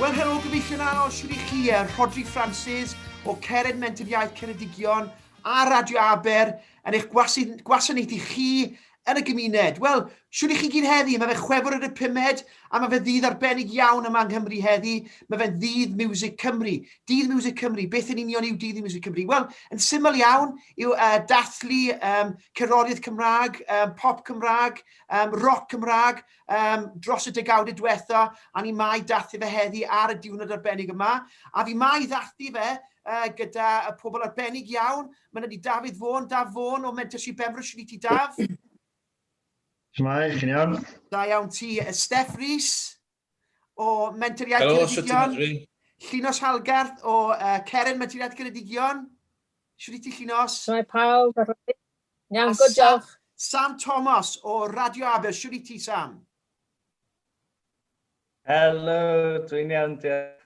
Wel helo, gyfeillion anos, shwt i chi? Yy, Rhodri Francis o Cered Mentor Iaith Ceredigion a Radio Aber yn eich gwasi- gwasanaethu chi yn y gymuned. Wel, shwt i chi gyd heddi? Mae fe chwefwr ar y pumed a mae fe ddydd arbennig iawn yma yng Nghymru heddi. Mae fe'n ddydd Music Cymru. Dydd Music Cymru, beth yn union yw dydd Music Cymru? Wel, yn syml iawn yw uh, dathlu um, cerddoriaeth Cymraeg, um, pop Cymraeg, um, rock Cymraeg um, dros y degawdau diwetha, a ni mai dathlu fe heddi ar y diwrnod arbennig yma. A fi mai ddathlu fe uh, gyda y pobl arbennig iawn. Mae'n ydy Dafydd Fôn, Daf Fôn o Mentorship Benfro, sy'n i ti Daf? Shmai, chi'n iawn? Da iawn ti, Steph Rees. o Menter Iaith Ceredigion. Llinos Halgarth o uh, Ceren Menter Iaith Ceredigion. Siwr i ti Llinos? Mae pawb ar rai. Iawn, good, diolch. Sam Thomas o Radio Aber. Siwr i ti, Sam? Helo, dwi'n iawn, diolch.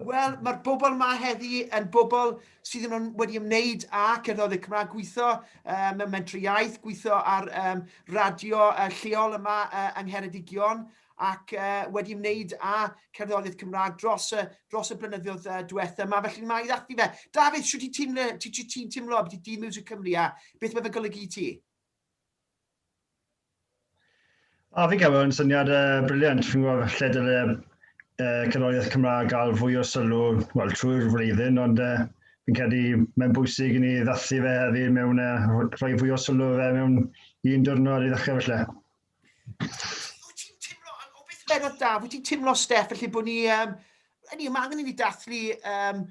Wel, mae'r bobl yma heddi yn bobl sydd yn wedi ymwneud â cerddoriaeth Cymraeg, gweithio uh, mewn mentri iaith, gweithio ar um, radio uh, lleol yma uh, yng Ngheredigion, ac wedi ymwneud â cerddoriaeth Cymraeg dros y, dros y blynyddoedd diwetha yma, felly mae ddathlu fe. Dafydd, siwt ti'n teimlo, ti, ti, ti teimlo beth i dîm Music Cymru a beth mae fe golygu i ti? A fi'n cael yn syniad uh, briliant, fi'n gwybod lle dyle uh, cerddoriaeth Cymraeg gael fwy o sylw well, trwy'r flwyddyn, ond uh, fi'n credu mae'n bwysig i ni ddathlu fe hefyd mewn uh, rhoi fwy o sylw fe mewn un diwrnod i ddechrau felly. Wyt ti'n timlo, o beth yn bennod da, wyt ti'n timlo, Steph, felly bod ni, um, ni, mae angen i ni dathlu um,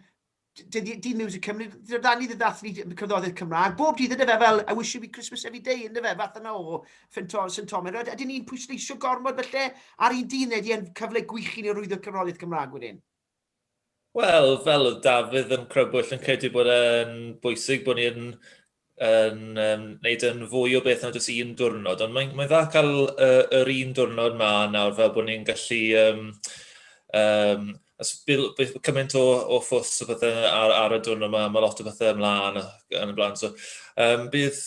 Dydd Music Cymru, dyna da ni ddydd dathlu cyfnoddoedd Cymraeg. Bob dydd yna fe fel, I wish you be Christmas every day, yna fe, fath yna o St Thomas. A dyn ni'n pwysleisio gormod felly ar un dydd neu di yn cyfle gwych i ni rwyddo cyfnoddoedd Cymraeg wedyn. Wel, fel oedd Dafydd yn crybwyll yn credu bod e'n bwysig bod ni'n yn um, wneud yn fwy o beth na jyst un diwrnod, ond mae'n mae dda cael uh, yr un diwrnod ma nawr fel bod ni'n gallu um, um, os bydd, bydd cymaint o, o ffws o bethau ar, ar y diwrnod yma, mae lot o bethau ymlaen yn y blaen. So, um, bydd,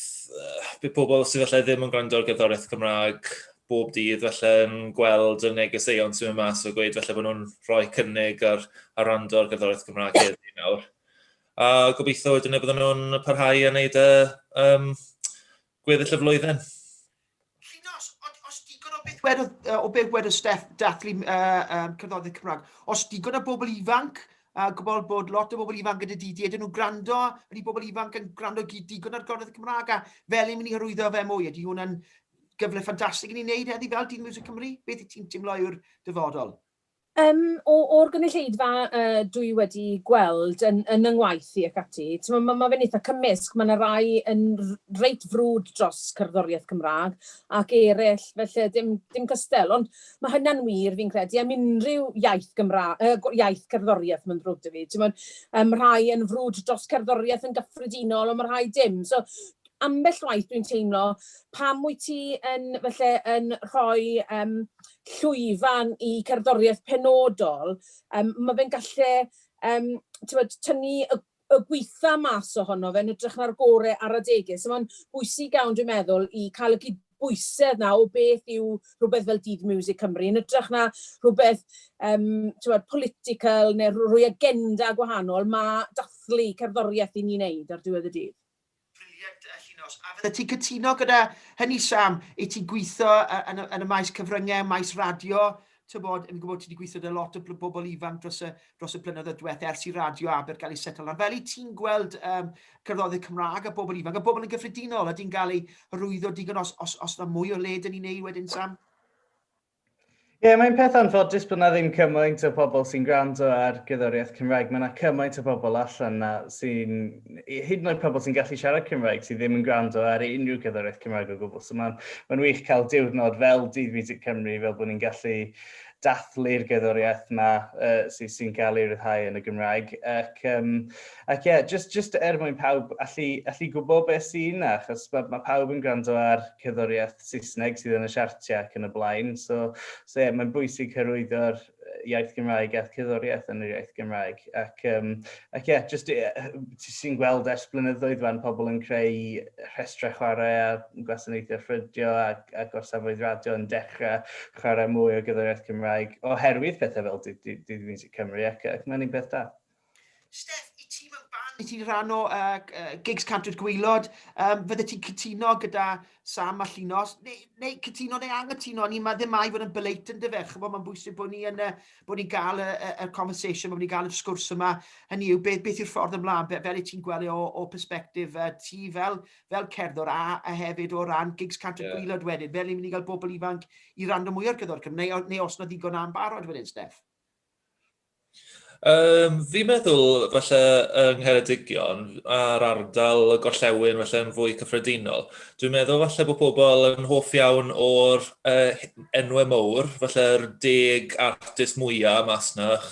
bydd pobl sydd allai ddim yn gwrando ar gerddoriaeth Cymraeg bob dydd falle yn gweld y negeseuon sy'n mynd mas o gweud falle bod nhw'n rhoi cynnig ar, ar rando ar gerddoriaeth Gymraeg heddi nawr. A gobeithio wedyn y bydden nhw'n parhau a wneud y um, gweddill y flwyddyn. Llinos, os digon o beth wedodd, o beth wedodd Steff dathlu uh, um, cerddoriaeth Cymraeg, os digon o bobl ifanc a gwybod bod lot o bobl ifanc gyda DD, ydyn nhw'n gwrando, ydy bobl ifanc yn gwrando digon ar gorddedd Cymraeg a fel yn mynd i hyrwyddo fe mwy, ydy hwnna'n gyfle ffantastig i ni wneud heddi fel Dyn Music Cymru? Beth i ti'n teimlo yw'r dyfodol? Um, o'r gynulleidfa uh, dwi wedi gweld yn, yn yng ngwaith i ac ati, mae ma, ma fe'n eitha cymysg, mae yna rai yn reit frwd dros cerddoriaeth Cymraeg ac eraill, felly dim, dim cystel, ond mae hynna'n wir fi'n credu am unrhyw iaith, Gymra, uh, iaith cerddoriaeth mae'n ddrwg dy fi. Mae um, rhai yn frwd dros cerddoriaeth yn gyffredinol, ond mae rhai dim. So, Ambell waith dwi'n teimlo, pam wyt ti yn, falle, yn rhoi um, llwyfan i cerddoriaeth penodol? Um, mae fe'n gallu um, tynnu y y gweitha mas ohono fe yn ytrach na'r gore ar adegau. So mae'n bwysig iawn, dwi'n meddwl, i cael y cydbwysedd na o beth yw rhywbeth fel Dydd Music Cymru, yn ytrach na rhywbeth um, bod, political neu rhywbeth agenda gwahanol, mae dathlu cerddoriaeth i ni'n neud ar diwedd y dydd. Brilliant yy Llinos. A fyddet ti'n cytuno gyda hynny Sam, i ti'n gweithio yn y yn y maes cyfrynge, maes radio, tybod, yn gwybod ti wedi gweithio gyda lot o bl- bobl ifanc dros y dros y blynyddoedd diwetha ers i radio Aber gael ei setlo lan. Fel i ti'n gweld um, cerddodydd Cymraeg a bobl ifanc a bobl yn gyffredinol a di'n cael ei hyrwyddo digon os, os, os na mwy o le dyn ni'n ei wedyn Sam? Ie, yeah, mae'n peth anffodus bod na ddim cymaint o pobl sy'n gwrando ar gyddoriaeth Cymraeg. Mae na cymaint o pobl allan na sy'n, hyd yn oed pobl sy'n gallu siarad Cymraeg sydd ddim yn gwrando ar unrhyw gyddoriaeth Cymraeg o gwbl. So mae'n ma wych cael diwrnod fel Dydd Music Cymru, fel bod ni'n gallu dathlu'r gyddoriaeth yma uh, sy'n sy cael ei ryddhau yn y Gymraeg. Ac um, Ac ie, jyst, jyst er mwyn pawb allu, allu gwybod beth sy'n yna, achos mae, mae pawb yn gwrando ar cerddoriaeth Saesneg sydd yn y siartiau ac yn y blaen, so, so ie, mae'n bwysig hyrwyddo'r iaith Gymraeg a'r cerddoriaeth yn yr iaith Gymraeg. Ac, um, ac ie, jyst, ti sy'n gweld ers blynyddoedd fan pobl yn creu rhestrau chwarae a gwasanaethau ffrydio a, a gorsafoedd radio yn dechrau chwarae mwy o gerddoriaeth Cymraeg oherwydd pethau fel Did, Did, Did Music Cymru ac, ac mae'n un peth da. Steff, i ti mewn band, i ti rhan o uh, uh, gigs Cantwyr Gwylod, um, fydde ti'n cytuno gyda Sam a Llinos, neu, neu cytuno neu angytuno, ni mae ddim mai fod yn byleit yn dyfer, chymod mae'n bwysig bod ni yn, uh, bod ni'n gael y, y, y conversation, bod ni'n gael y sgwrs yma, hynny yw beth, beth yw'r ffordd ymlaen, be, fel i ti'n gweld e o, o perspektif uh, ti fel, fel cerddor a, a hefyd o ran gigs Cantwyr yeah. Gwylod wedyn, fel ni'n mynd i gael bobl ifanc i rando mwy o'r gyddor Cymru, neu, neu os na ddigon am barod wedyn, Steff? Um, fi'n meddwl, falle, yng Ngheredigion a'r ardal y gorllewin, falle, yn fwy cyffredinol. Dwi'n meddwl, falle, bod pobl yn hoff iawn o'r uh, enwau mowr, falle'r deg artist mwyaf mas na'ch,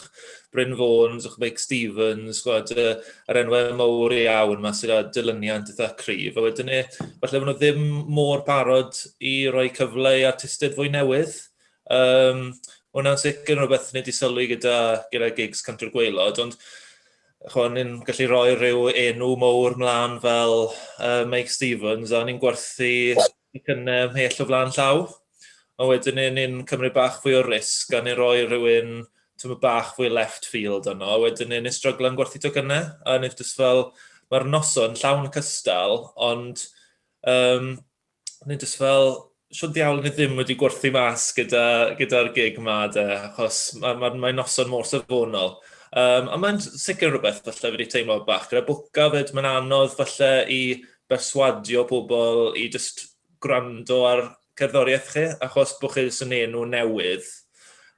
Bryn Fawns, o'ch Mike Stevens, gwad, uh, yr enwau mowr iawn mas sydd â dilyniant eitha cryf. A wedyn ni, e, falle bod nhw ddim mor parod i roi cyfle i artistiaid fwy newydd. Um, hwnna'n sicr yn rhywbeth ni wedi sylwi gyda, gyda gigs Cantwr Gweilod, ond chwa, ni'n gallu rhoi rhyw enw mowr mlaen fel uh, Mike Stevens, a ni'n gwerthu y cynnau mhell o flaen llaw. A wedyn ni'n cymryd bach fwy o risg, a ni'n rhoi rhywun tymor bach fwy left field yno, a wedyn ni'n stryglan gwerthu to cynnau, a ni'n just fel, mae'r noson llawn cystal, ond um, o'n i'n just fel, shwt ddiawl ni ddim wedi gwerthu mas gyda'r gyda gig yma de, achos mae'n ma, ma noson mor safonol. Um, a mae'n sicr rhywbeth falle wedi teimlo bach gyda bwca fyd, mae'n anodd falle i berswadio pobl i just gwrando ar cerddoriaeth chi, achos bod chi jyst yn enw newydd.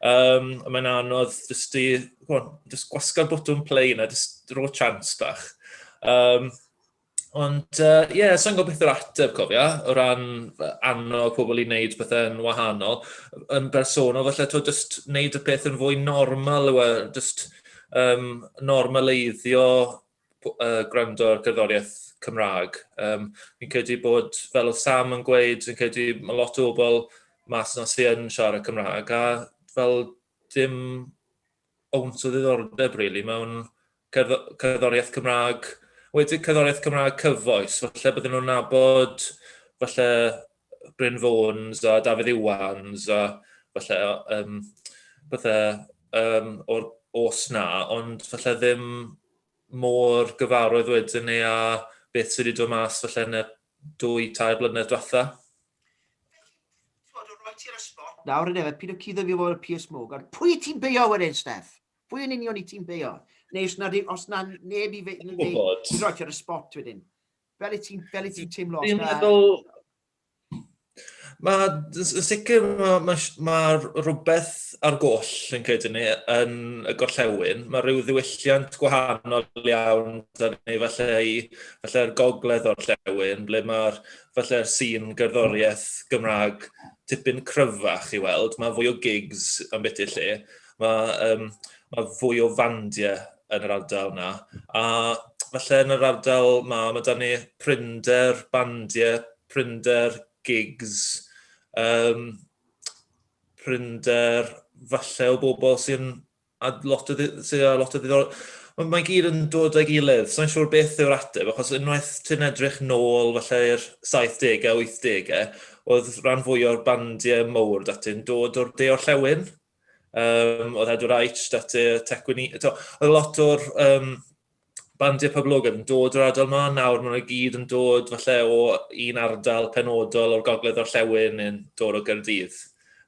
Um, mae'n anodd just i, on, just gwasga'r bwtwm play na, just ro chance bach. Um, Ond, uh, ie, yeah, sa'n gwybod beth yw'r ateb, cofio, o ran annog pobl i wneud pethau'n wahanol. Yn bersonol, felly, to just wneud y peth yn fwy normal yw e, just um, normaleiddio uh, gwrando ar gerddoriaeth Cymraeg. Um, fi'n credu bod, fel oedd Sam yn gweud, fi'n credu mae lot o bobl mas yna sy'n siarad Cymraeg, a fel dim owns o ddiddordeb, really, mewn cerddoriaeth Cymraeg. Wedi cerddoriaeth Cymraeg cyfoes, falle bydden nhw'n nabod, falle Bryn Fawns a Dafydd Iwans a falle um, bethau um, o'r os na, ond falle ddim mor gyfarwydd wedyn ni a beth sydd wedi dod mas falle yn y dwy, tair blynedd diwetha. Felly, roi ti'r ysbot. Nawr yn efo, pyd o cuddo fi o'r Piers Morgan. Pwy i ti'n beio wedyn, Steph? Pwy yn union i ti'n beio? Neu os na, os na neb i fe... Yn gwybod. Ti'n roi ti'r ysbot wedyn. Fel i ti'n teimlo? Dwi'n meddwl... Mae, yn sicr, mae, mae, mae rhywbeth ar goll yn credu ni yn y gorllewin. Mae rhyw ddiwylliant gwahanol iawn da ni falle i falle'r gogledd o'r llewin, ble mae'r falle'r sîn gerddoriaeth Gymraeg tipyn cryfach i weld. Mae fwy o gigs yn beth i'r lle. Mae, um, mae fwy o fandiau yn yr ardal yna. A falle yn yr ardal ma, mae da ni prinder bandiau prinder, gigs, um, prinder falle o bobl sy'n a lot o, sy a lot o ddiddor... Ond mae gyd yn dod â'i gilydd, so'n siŵr beth yw'r ateb, achos unwaith ti'n edrych nôl falle i'r 70au, 80au, oedd rhan fwy o'r bandiau mowr dati'n dod o'r de o'r llewn, Um, oedd Edward Wright, dati Tecwini. Oedd lot o'r um, bandiau poblogaidd yn dod o'r ardal yma. Nawr maen nhw gyd yn dod falle o un ardal penodol o'r gogledd o'r llewn yn dod o Gyrdydd.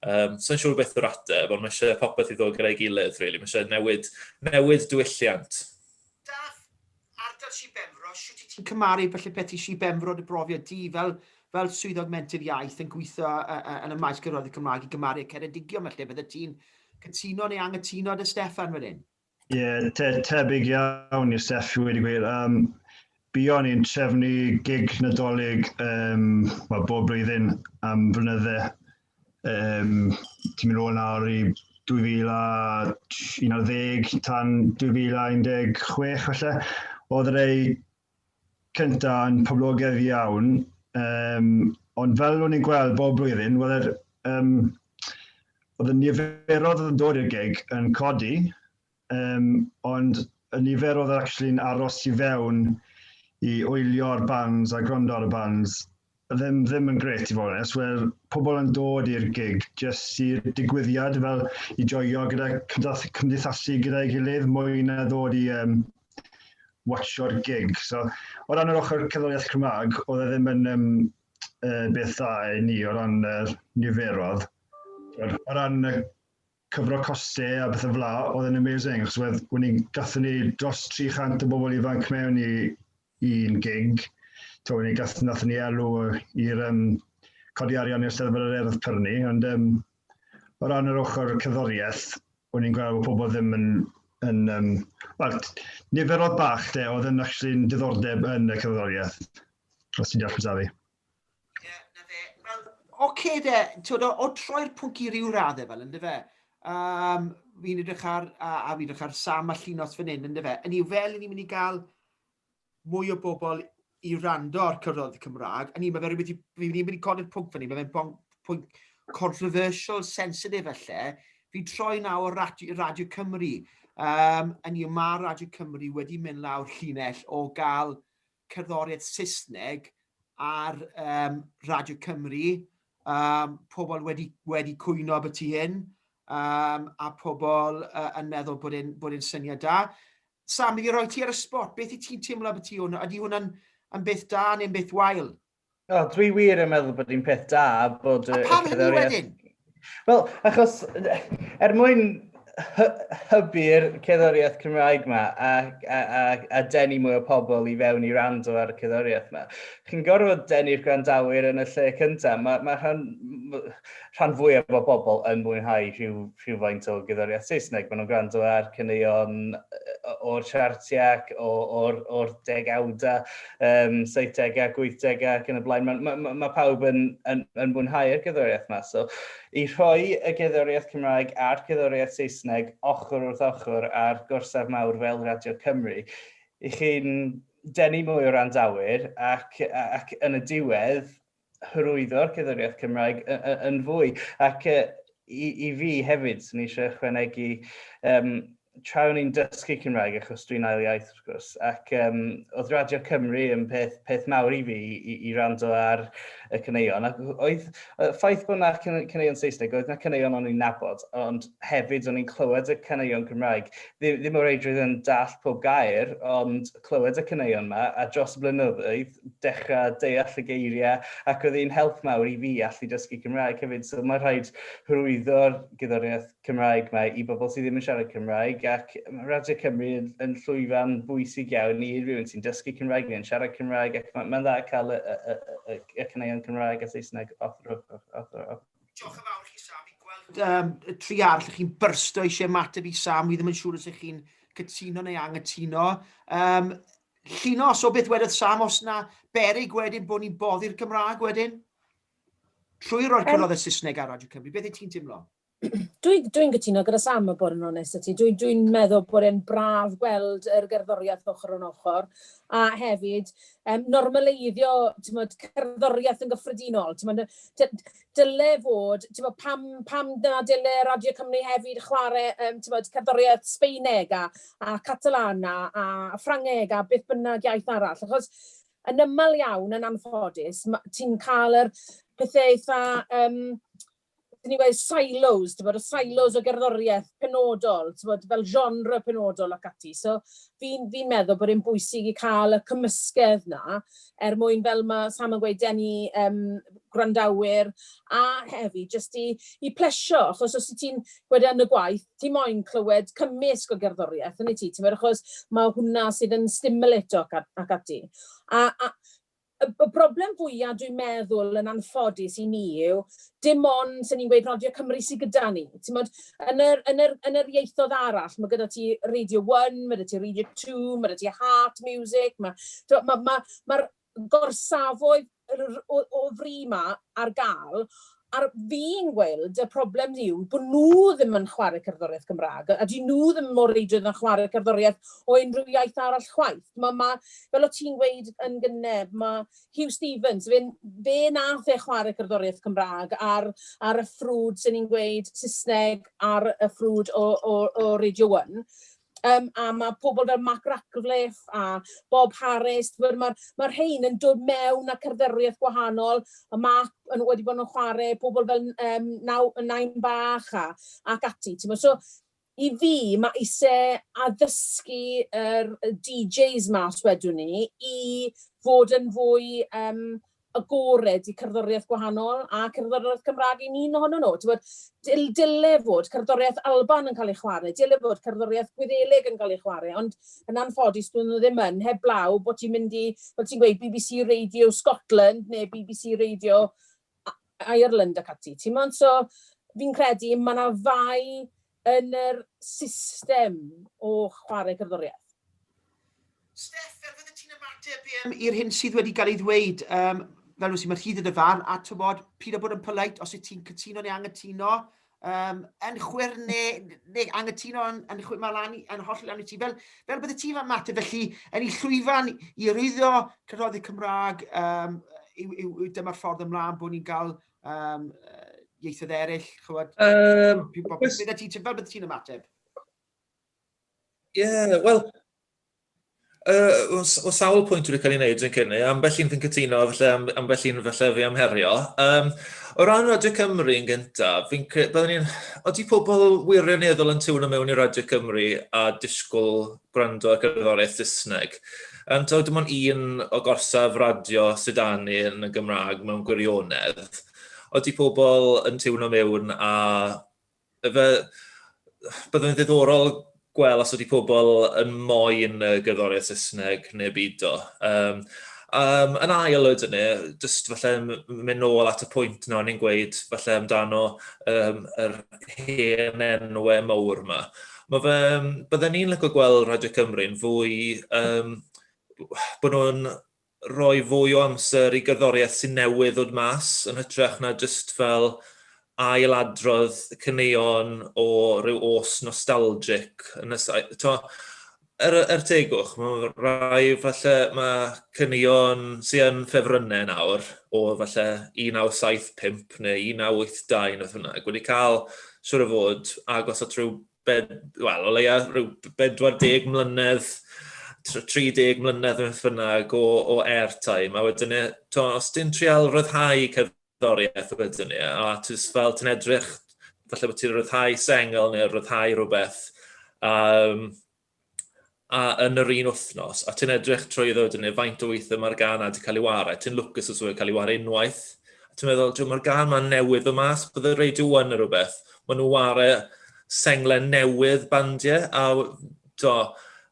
Um, So'n siŵr beth o'r ateb, ond mae eisiau popeth i ddod gyda'i gilydd, really. Mae eisiau newid, newid diwylliant. Daf, Ardal Sir Benfro, shwt i ti'n cymaru falle peth i Sir Benfro dy brofiad di fel fel swyddog menter iaith yn gweithio yn y maes cyfroedd y Cymraeg i gymaru y Ceredigion felly, bydde ti'n cytuno neu angytuno dy Steffan fan hyn? Ie, yeah, te, tebyg iawn i'r Steffi wedi gwir. Um, Bion i'n trefnu gig nadolig um, well, bob blwyddyn am flynydde um, ti'n mynd ôl nawr i 2011 tan 2016 felly, oedd yr ei cyntaf yn poblogedd iawn, um, ond fel o'n i'n gweld bob blwyddyn, oedd yr, um, oedd y niferodd yn dod i'r gig yn codi, um, ond y nifer oedd actually'n aros i fewn i wylio'r bands a gwrando ar y bands ddim, ddim yn gret i fod yn eswyr pobl yn dod i'r gig jyst i'r digwyddiad fel i joio gyda cymdeithasu gyda'i gilydd mwy na ddod i um, watcho'r gig. So, o ran yr ochr cerddoriaeth Cymraeg, oedd e ddim yn um, uh, beth dda i ni o ran uh, niferodd. O ran uh, cyfro costau a bethau fla, oedd yn amazing, achos wedd, wedd ni'n gatho ni dros 300 o bobl ifanc mewn i un gig, to wedd ni'n gatho nath ni alw i'r um, codi arian i'r steddfod yr erdd pyrnu, ond um, o ran yr ochr cyddoriaeth, o'n i'n gweld bod pobl ddim yn... yn um, well, nifer oedd bach de, oedd yn actually'n diddordeb yn y cyddoriaeth, os ti'n deall beth fi. Ie, na fe. Wel, oce de, twyd, o, o troi'r pwnc i ryw raddau fel, ynddo fe. Um, fi'n edrych ar, a, a fi'n edrych ar Sam a Llinos fan hyn, ynddo fe. Yn i'w fel, ni'n mynd i gael mwy o bobl i rando ar cyrraedd y Cymraeg. Yn i'w, mae fe rhywbeth i, fi'n mynd i codi'r pwnc fan hyn, mae fe'n pwnc controversial, sensitif felly. Fi'n troi nawr radio, radio Cymru. Um, yn i'w, mae Radio Cymru wedi mynd lawr llinell o gael cerddoriaeth Saesneg ar um, Radio Cymru, um, pobl wedi, wedi cwyno am y tu hyn, um, a pobl uh, yn meddwl bod e'n e syniad da. Sam, i roi ti ar y spot, beth i ti'n teimlo am y tu hwn? Ydy hwnna'n beth da neu'n beth wael? O, dwi wir yn meddwl bod hi'n peth da bod... A pam hynny wedyn? Wel, achos er mwyn hybu'r ceddoriaeth Cymraeg yma a, a, a, a denu mwy o pobl i fewn i rando ar y ceddoriaeth yma. Chi'n gorfod denu'r gwrandawyr yn y lle cyntaf. Mae, mae hwn, rhan fwyaf o bobl yn mwynhau rhyw rhywfaint o gerddoriaeth Saesneg. Maen nhw'n gwrando ar caneuon o'r siartiac, o'r o'r degawdau, um, 70au, 80au ac yn y blaen. Mae ma, ma, ma pawb yn, yn, yn mwynhau'r gerddoriaeth yma. So, i rhoi y gerddoriaeth Cymraeg a'r gerddoriaeth Saesneg ochr wrth ochr ar gorsaf mawr fel Radio Cymru, i chi'n denu mwy o randawyr ac, ac yn y diwedd, hyrwyddo'r cerddoriaeth Cymraeg yn fwy. Ac i fi hefyd, swn i eisiau ychwanegu, um, tra o'n i'n dysgu Cymraeg, achos dwi'n ail iaith wrth gwrs, ac um, oedd Radio Cymru yn peth, peth mawr i fi i, i rando ar y cyneuon. Ac oedd, ffaith bod yna cyneuon Saesneg, oedd yna cyneuon o'n i'n nabod, ond hefyd o'n i'n clywed y cyneuon Cymraeg. Ddim, ddim o reidrwydd yn dall pob gair, ond clywed y cyneuon yma, a dros y blynyddoedd, dechrau deall y geiriau ac oedd hi'n help mawr i fi allu dysgu Cymraeg hefyd. So mae'n rhaid hyrwyddo'r gwyddoniaeth Cymraeg mae i bobl sydd ddim yn siarad Cymraeg ac mae Radio Cymru yn, yn llwyfan bwysig iawn i rhywun sy'n dysgu Cymraeg neu'n siarad Cymraeg ac mae'n mae dda cael y, y, y, y, y caneuon Cymraeg a Saesneg off, off, off, off, off. Diolch yn fawr i chi Sam, fi'n gweld um, y tri arall chi'n byrsto eisiau mateb i Sam, wi ddim yn siŵr os ych chi'n cytuno neu anghytuno. Um, Llinos o beth wedodd Sam os na berig wedyn bod ni'n boddi'r Gymraeg wedyn? Trwy roi'r cyfnod y Saesneg ar Radio Cymru, beth y ti'n teimlo? Dwi'n dwi gytuno gyda Sam y bod yn onest y ti. Dwi'n dwi meddwl bod e'n braf gweld yr gerddoriaeth ochr yn ochr. A hefyd, um, normaleiddio tymod, cerddoriaeth yn gyffredinol. Tymod, dyle fod, timod, pam, pam na dyle Radio Cymru hefyd chwarae, um, timod, cerddoriaeth Sbeineg a, a Catalan a, a Ffrangeg a beth bynnag iaith arall. Achos yn ymol iawn, yn anffodus, ti'n cael yr pethau eitha, um, dyn ni wedi silos, ti'n bod, y silos o gerddoriaeth penodol, ti'n bod, fel genre penodol ac ati. So, fi'n fi meddwl bod e'n bwysig i cael y cymysgedd na, er mwyn, fel ma' Sam yn gweud, denu yym gwrandawyr, a hefyd jyst i i plesio, achos os wyt ti'n gwed e yn y gwaith, ti moyn clywed cymysg o gerddoriaeth, yn wyt ti, timod, achos ma' hwnna sydd yn stimulato ac a- ac ati. A a y y broblem fwya dwi'n meddwl, yn anffodus i mi, yw dim ond, sa ni'n gweud, Radio Cymru sy gyda ni. Timod, yn yr, yn yr, yn yr ieithoedd arall, mae gyda ti Radio One, mae gyda ti Radio Two, mae gyda ti Heart Music, mae, mae'r ma, ma, ma gorsafoedd o, o fri ma ar gael, A'r fi'n gweld, y problem yw bod nhw ddim yn chwarae cerddoriaeth Gymraeg, a dyn nhw ddim mor reidrwydd yn chwarae cerddoriaeth o unrhyw iaith arall chwaith. Mae, ma, fel o ti'n gweud yn gynne, mae Huw Stephens, fe'n, fe nath e chwarae cerddoriaeth Cymraeg ar, ar y ffrwd sy'n ni'n gweud Saesneg ar y ffrwd o, o, o Radio 1. Um, a mae pobl fel Mark Ratcliffe a Bob Harris, mae'r ma, ma rhain yn dod mewn a cerddoriaeth gwahanol, a Mark yn, wedi bod yn chwarae pobl fel um, naw, Nain Bach a, ac ati. So, I fi, mae eisiau addysgu yr DJs mas wedwn ni i fod yn fwy yym agored i cerddoriaeth gwahanol a cerddoriaeth Cymraeg i'n un ohonyn nhw. Ti'n gwybod, dil- dyle fod cerddoriaeth Alban yn cael ei chwarae, dyle fod cerddoriaeth Gwyddelig yn cael ei chwarae, ond yn anffodus dydyn nhw ddim yn, heblaw bod ti'n mynd i, fel ti'n gweud, bbc Radio Scotland neu bbc Radio Ireland ac ati, timod? So, fi'n credu mae yna fai yn yr system o chwarae cerddoriaeth. Steff, fel fydde ti'n ymateb i'r hyn sydd wedi cael ei ddweud, um, fel wysi, mae rhydd yn y fan, a tymod, pyd o bod yn polite, os yw ti'n cytuno neu anghytuno, Um, yn chwer neu, neu angytuno yn, yn chwer mae lan, yn holl lan i ti. Fel, fel bydde ti fan mater, felly, yn ei llwyfan i rwyddo cyfroddi Cymraeg, um, yw, yw, yw dyma'r ffordd ymlaen bod ni'n cael um, ieithoedd eraill, chywod? Um, beth ti'n fel bydde ti'n ymateb? Ie, yeah, wel, Uh, o sawl pwynt wedi cael ei wneud yn cynnu, ambell un fi'n cytuno, felly ambell un felly fi am herio. Um, o ran Radio Cymru yn gyntaf, fi'n credu, byddwn ni'n, oeddi pobl wirioneddol yn tiwno mewn i Radio Cymru a disgwyl gwrando ar gerddoriaeth Saesneg. Um, Tawyd dim ond un o gorsaf radio sydd â ni yn y Gymraeg mewn gwirionedd. Oeddi pobl yn tiwno mewn a Fe byddwn yn ddiddorol gweld os ydy pobl yn moyn y gerddoriaeth Saesneg neu beidio. Um, um, yn ail oed yna, jyst falle mynd nôl at y pwynt yna o'n i'n gweud falle amdano um, yr hen enwau mawr yma. Mae fe, byddwn ni'n lygo gweld Radio Cymru'n fwy um, bod nhw'n rhoi fwy o amser i gerddoriaeth sy'n newydd ddod mas yn hytrach na jyst fel ail adrodd y caneuon o ryw os nostalgic yn y saith- t'mo'? Er y- er tegwch ma' rai falle ma' caneuon sy yn ffefrynne nawr o falle 1975 ne' 1982 ne' beth bynnag wedi ca'l siŵr o fod agos at ryw bed, wel, o leia rhyw 40 mlynedd, 30 mlynedd yn ffynag o, o airtime, a wedyn e, to, os ti'n trial rhyddhau cerddoriaeth wedyn e, a ti'n fel ti'n edrych, falle bod ti'n rhyddhau sengl neu rhyddhau rhywbeth, um, a yn yr un wythnos, a ti'n edrych trwy ddod yn ei faint o weithiau mae'r gan wedi cael ei wario, ti'n lwcus os wedi cael ei wario unwaith, a ti'n meddwl, dwi'n mae'r gan mae'n newydd fy mas, bydde Radio 1 yn rhywbeth, maen nhw wario senglen newydd bandiau, a do,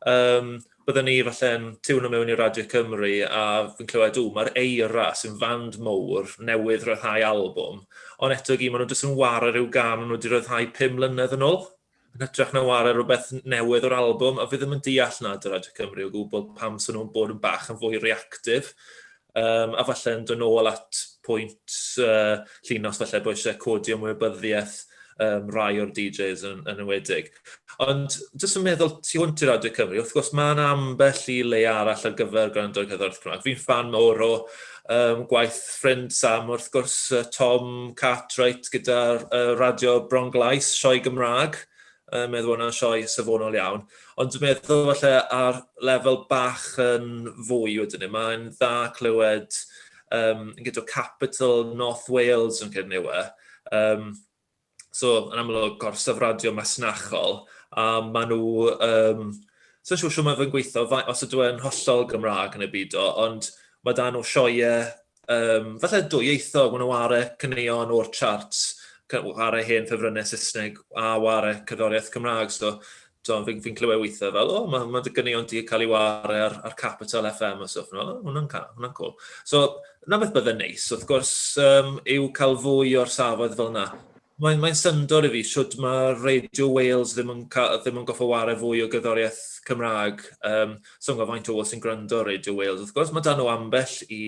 um, bydde ni falle'n tiwn o mewn i Radio Cymru, a fi'n clywed, o, mae'r eira sy'n fand mowr newydd rhyddhau albwm, ond eto gyd, maen nhw'n dweud yn wario rhyw gan, maen nhw wedi rhyddhau 5 mlynedd yn ôl. yn hytrach na ware rhywbeth newydd o'r albwm, a fi ddim yn deall nad yr Radio Cymru o gwbl pam sy'n nhw'n bod yn bach yn fwy reactif, um, a falle yn dod nôl at pwynt uh, llinos falle bod eisiau codi ymwybyddiaeth um, rai o'r DJs yn, yn ywedig. Ond jyst yn meddwl tu hwnt i Radio Cymru, wrth gwrs mae'n ambell i le arall ar gyfer gwrando'r cyddorth Cymraeg. Fi'n fan mawr o um, gwaith ffrind Sam wrth gwrs, uh, Tom Cartwright gyda uh, Radio Bronglais, sioe Gymraeg, uh, meddwl hwnna'n sioe safonol iawn. Ond dwi'n meddwl falle ar lefel bach yn fwy wedyn ni, mae'n dda clywed um, gyda Capital North Wales yn Cerneuwe, um, so yn amlwg gorsyfradio masnachol, a maen nhw, um, so siw siw mae fe'n gweithio, os ydw e'n hollol Gymraeg yn y byd o, ond mae dan nhw sioiau, um, falle dwyieithog, maen nhw ar y cyneuon o'r charts, ar y hen ffefrynnau Saesneg a ar y cyddoriaeth Cymraeg, so Fi'n fi, fi clywed weithiau fel, o, oh, mae ma dy gynnion di cael ei wario ar, ar Capital FM a stwff. No, hwnna'n hwnna cool. So, na beth bydde'n neis, wrth gwrs, um, yw cael fwy o'r safodd fel yna. Mae'n mae syndod i fi, siwt mae Radio Wales ddim yn, ca, ddim yn goffa wario fwy o gyddoriaeth Cymraeg. Um, so, mae faint o bobl sy'n gwrando Radio Wales. Wrth gwrs, mae dan nhw ambell i,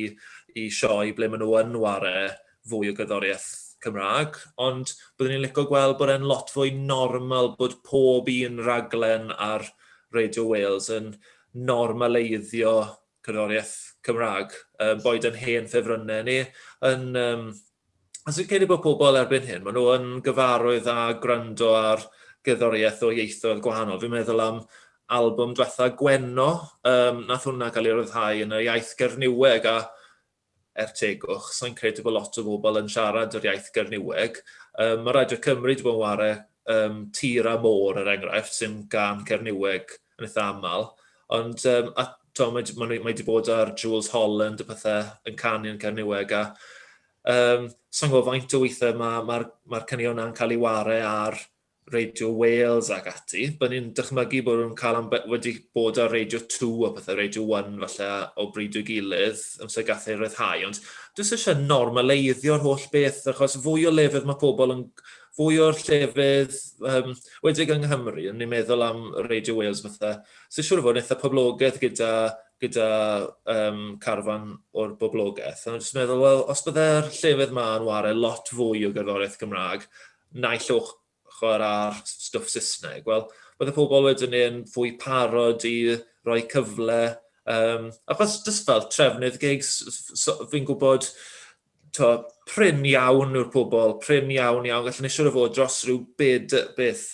i sioe ble maen nhw yn wario fwy o gerddoriaeth Cymraeg, ond byddwn i'n licio gweld bod e'n lot fwy normal bod pob un raglen ar Radio Wales yn normaleiddio cerddoriaeth Cymraeg, um, boed yn hen ffefrynnau ni, yn... Um, a sy'n credu bod pobl erbyn hyn, maen nhw yn gyfarwydd â gwrando ar gerddoriaeth o ieithoedd gwahanol. Fi'n meddwl am album diwetha Gwenno, um, nath hwnna cael ei ryddhau yn y iaith Gerniweg, a er tegwch, sa'n credu bod lot o bobl yn siarad yr iaith Gerniweg. Um, mae Radio Cymru wedi bod yn ware um, tir a môr, er enghraifft, sy'n gan Gerniweg yn eitha aml. Ond um, a, to, mae, mae, mae wedi bod ar Jules Holland y pethau yn canu yn Cerniweg a um, sa'n gwybod faint o weithiau mae'r ma, ma, ma caneuon yna'n cael ei ware ar Radio Wales ac ati, bydden ni'n dychmygu bod nhw'n cael am wedi bod ar Radio 2 a pethau, Radio 1 falle o bryd o'i gilydd, amser gath ei ryddhau, ond dwi'n eisiau normaleiddio'r holl beth, achos fwy o lefydd mae pobl yn fwy o'r llefydd um, wedig yng Nghymru, yn ni'n meddwl am Radio Wales fatha, sy'n siŵr o fod yn eitha poblogaeth gyda, gyda um, carfan o'r boblogaeth. Ond jyst meddwl, wel, os byddai'r llefydd yma yn wario lot fwy o gerddoriaeth Gymraeg, naill ochr a'r stwff Saesneg, wel, oedd y pobl wedyn yn fwy parod i roi cyfle, um, achos jyst fel trefnydd gigs, so, fi'n gwybod, to, prin iawn yw'r pobl, prin iawn iawn, gallwn eisiau o fod dros rhyw bed, beth,